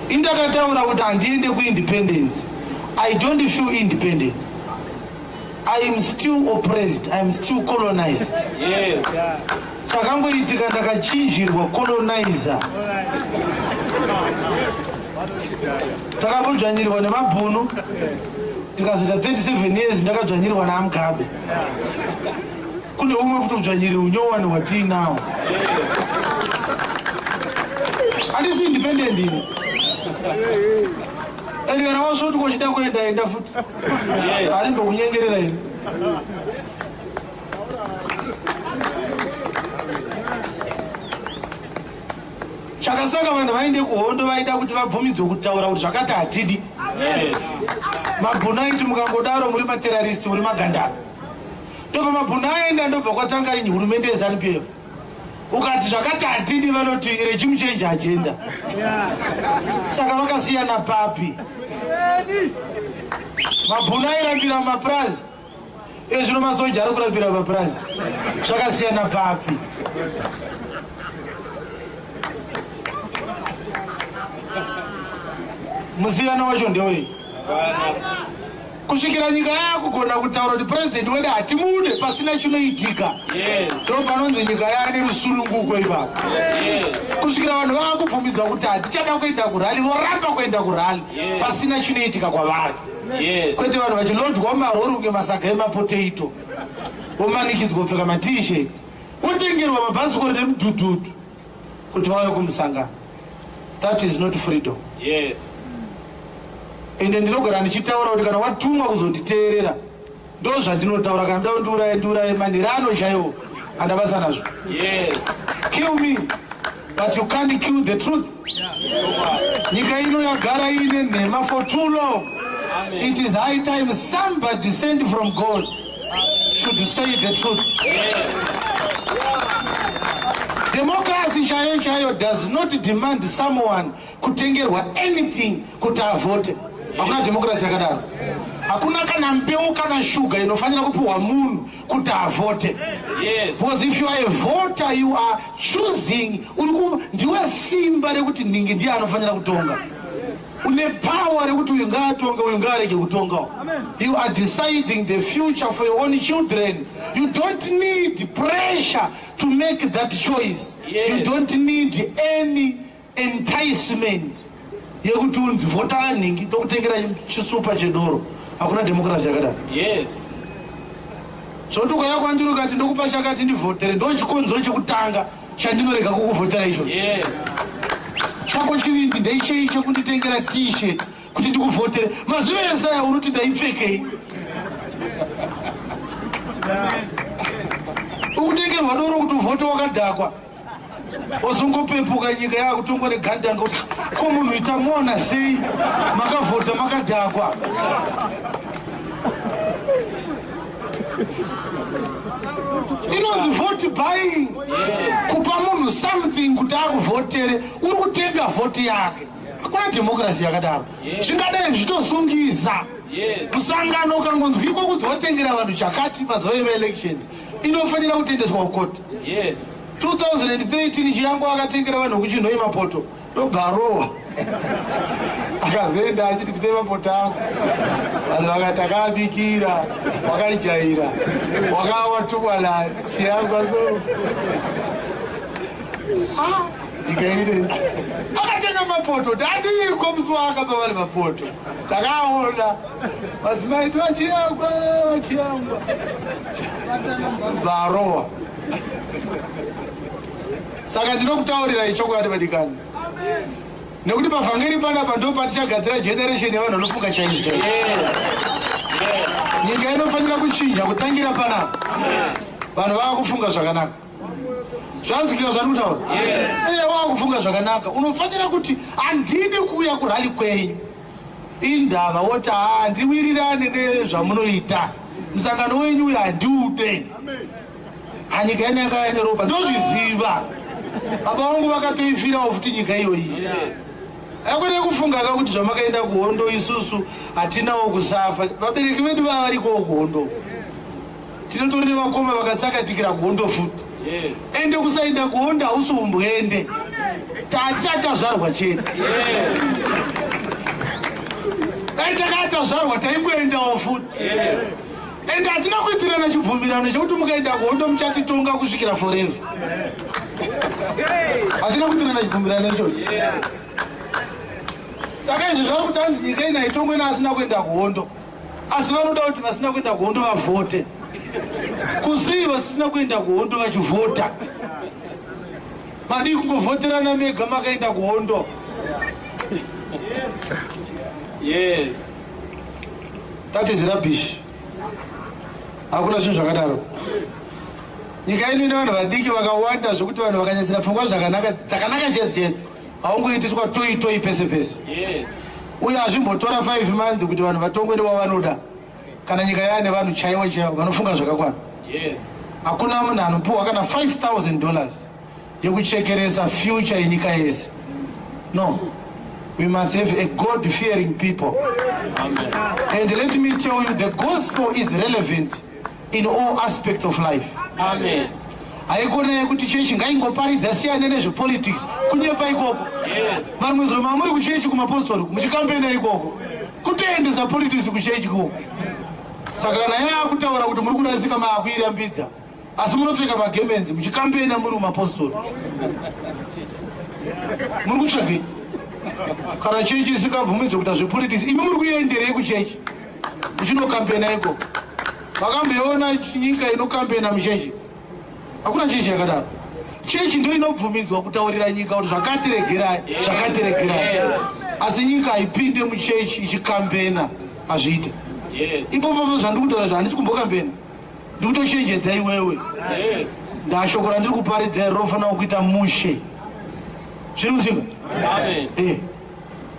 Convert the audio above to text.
Ini ndakataura kuti handiende kuindependence. I don't feel independent. I am still oppressed. I am still colonized. Yes. Chakangoitika ndakachinjirwa colonizer. Takambojanyirwa nemabhunu. Tikazoita 37 years ndakajanyirwa naMugabe. Kune umwe futi udzvanyiriri unyowani hwatiinawo. Handisi independent ini. And kana wasvoti kochida kuenda enda futi. Ari ndokunyengerera ini. Chakasaka vanhu vaende kuhondo vaida kuti vabvumidzwe kutaura kuti zvakati hatidi. Magunaiti mukangodaro muri materrorist muri magandaro. ndobva mabhunu aenda ndobva kwatanga ini hurumende yezanup f ukati zvakati hatidi vanoti regimu change agenda saka vakasiyana papi mabhunu airambira mapurazi iye zvino masoja ari kurambira mapurazi zvakasiyana papi musiyano wacho ndewei Kusvikira nyika yakugona kutaura kuti president wedu hatimude pasina chinoitika. Yes. Ndipo panonzi nyika yane rusununguko ipapo. Yes. Kusvikira vanhu vakubvumidzwa kuti hatichada kuenda kurali voramba kuenda kurali yes. pasina chinoitika kwavari. Yes. Kwete vanhu vachilodwa marori kunge masaga emapotato. Vomanikidzwa kupfeka matishet. Votengerwa mabhasikoro nemudhudhudhu. kuti vauye kumusangano that is not freedom yes. ende ndinogara ndichitaura kuti kana watumwa kuzonditeerera ndo zvandinotaura kana ndoda ndiuraye ndiuraye manhirano chaiwo andabasa nazvo yes. kill me but you can't kill the truth nyika ino yagara iine nhema for too long Amen. it is high time somebody sent from god should we say the truth democracy chaiyo chaiyo does not demand someone kutengerwa anything kuti avote hakuna democracy yakadaro hakuna kana mbeu kana shuga inofanira kupiwa munhu kuti avote because if you are a voter you are choosing ndiwe simba rekuti nhingi ndiye anofanira kutonga une power rekuti uyu ngaatonge uyu ngaarege kutongawo you are deciding the future for your own children you don't need pressure to make that choice yes. you don't need any enticement yekuti unzi vhotara nhingi tokutengera chisupa chedoro hakuna democracy yakadaro yes zvoti ukaya kwandiri ukati ndokupa chakati ndivhotere ndochikonzero chekutanga chandinorega kukuvhotera icho chako chivindi ndeichei chekunditengera t-shirt kuti ndikuvhotere mazuva ese aya unoti ndaipfekei ukutengerwa doro kuti uvhote wakadhakwa ozongopepuka nyika yakutongwa negandanga kuti ko munhu itamona sei makavhota makadhakwa inonzi vote buying kupa munhu something kuti akuvhotere uri kutenga vhoti yake hakuna dhemokirasi yakadaro zvingadai zvichitosungisa musangano ukangonzwikwa kunzi watengera vanhu chakati mazuva emaelections inofanira kutendeswa kukoti 2013 chiyango akatengera vanhu kuchinhoyi mapoto ndobva arohwa akazoenda achiti ndipe mapota ako vanhu vakati akaabikira wakaijaira wakawa tukwana chiyangwa so ndikaire akatenga mapoto tadiiko musi waakapa vari mapoto takaona madzimai ti vachiyangwa vachiyangwa bvarowa Saka ndinokutaurirai chokwadi vadikani, nekuti pavhangeri panapa ndo patichagadzira generation yevanhu vanofunga chaizvo chaizvo. Nyika inofanira kuchinja kutangira panapa, vanhu vava kufunga zvakanaka zvanzwika zvani kutaura eye wava kufunga zvakanaka unofanira kuti handidi kuuya kurali kwenyu indava woti handiwirirane nezvamunoita musangano wenyu uyo handiude anyika yedu yakava neropa ndozviziva baba vangu vakatoifirawo futi nyika iyoyi akwete kufunga ka kuti zvamakaenda kuhondo isusu hatinawo kusafa vabereki vedu vava varikowo kuhondo tinotori nevakoma vakatsakatikira kuhondo futi ende kusaenda kuhondo hausi umbwende tatisati tazvarwa chete dai takatazvarwa taingoendawo futi and hatina kuitirana chibvumirano chekuti mukaenda kuhondo muchatitonga kusvikira forever hatina kuitirana chibvumirano ichocho saka izvi zvari kuti anzi nyika ina itongwe naasina kuenda kuhondo asi vanoda kuti vasina kuenda kuhondo vavhote kusii vasina kuenda kuhondo vachivhota madii kungovhoterana mega makaenda kuhondo yes. That is rubbish. Hakuna zvinhu zvakadaro. Nyika yedu ine vanhu vadiki vakawanda zvekuti vanhu vakanyadzira pfungwa zvakanaka dzakanaka chete chete. Haungoitiswa toyi toyi pese pese. Yes. Uye hazvimbotora 5 months kuti vanhu vatongwe newavanoda. Kana nyika yaane vanhu chaiwo chaiwo vanofunga zvakakwana. Yes. Hakuna munhu anopiwa kana 5000 dollars. yekuchekeresa future yenyika yese no we must have a god fearing people and let me tell you the gospel is relevant in all aspects of life Amen haikona yekuti chechi ngaingoparidza siyane nezvepolitics kunyepa ikoko varumwe zuro mamuri kuchechi kumapostori muchikambena ikoko kutoendesa politics kuchechi ikoko saka kana yaakutaura kuti muri kurasika maakuirambidza asi munopfeka magemenzi muchikambena muri mumapostori muri kutsvagei kana chechi isikabvumidzwe kuita zvepolitics imi muri kuenderei kuchechi muchinokambena iko makamboona nyika inokambena muchechi hakuna chechi yakadaro chechi ndo inobvumidzwa kutaurira nyika kuti zvakatiregerai zvakatiregerai asi nyika haipinde muchechi ichikambena hazviite ipopopo zvandiri kutaura zva handisi kumbokambena ndikutochenjedza iwewe ndashoko randiri kuparidza iri rofanira kuita mushe zviri kuzinga eh.